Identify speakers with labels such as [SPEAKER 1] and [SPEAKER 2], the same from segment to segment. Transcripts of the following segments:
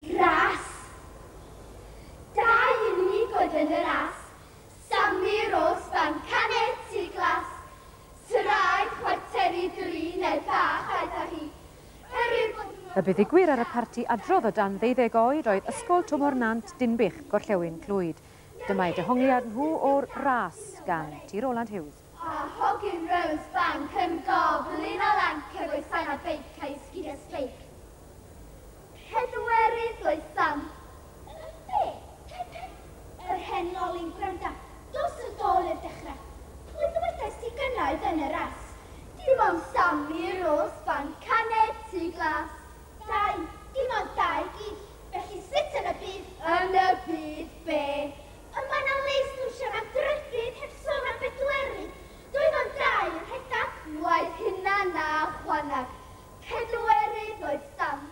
[SPEAKER 1] Ras. Dau unig oedd yn y ras, Sammy Rose Van Canett, Tŷ Glas, Suraid, Chwarteri Drin, er bach aeth â hi, er ei fod hi mor Y buddugwyr ar y parti adrodd o dan ddeuddeg oed oedd Ysgol Tymor Nant Dinbych, Gorllewin Clwyd. Dyma eu dehongliad nhw o'r ras, gan T. Roland Hughes. Pa hogyn Rose Bank yn goflin o lan cyfoesan a beic a'i sgidia sbeic? Pedwerydd oedd Sam. Yn be? Cae Pen? Yr hen lolin gwranda, dos yn dôl i'r dechre. Pwy ddywedais ti gynna oedd yn y ras? Dim ond Sam i Rose Bank a neb tu glas. Dau, dim ond dau gill, felly sut yn y byd? Yn y byd be? Ond mae 'na le i sgwrsio am drydydd heb sôn am bedwerydd, doedd o'n gau yn rhedag. Waeth hynna na chwanag, pedwerydd oedd Sam.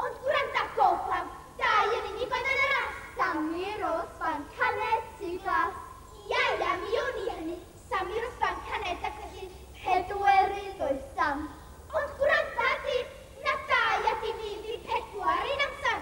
[SPEAKER 1] Ond gwranda gof am gau yn unig oedd yn yr arth! Sammy Rose Fan Caned, Tŷ Glas. Ia, ia, mi wn i hynny, Sammy Rose Fan Caned ac felly pedwerydd oedd Sam. Ond gwranda, dyn, na dau a dim un, dyn pedwar un amser!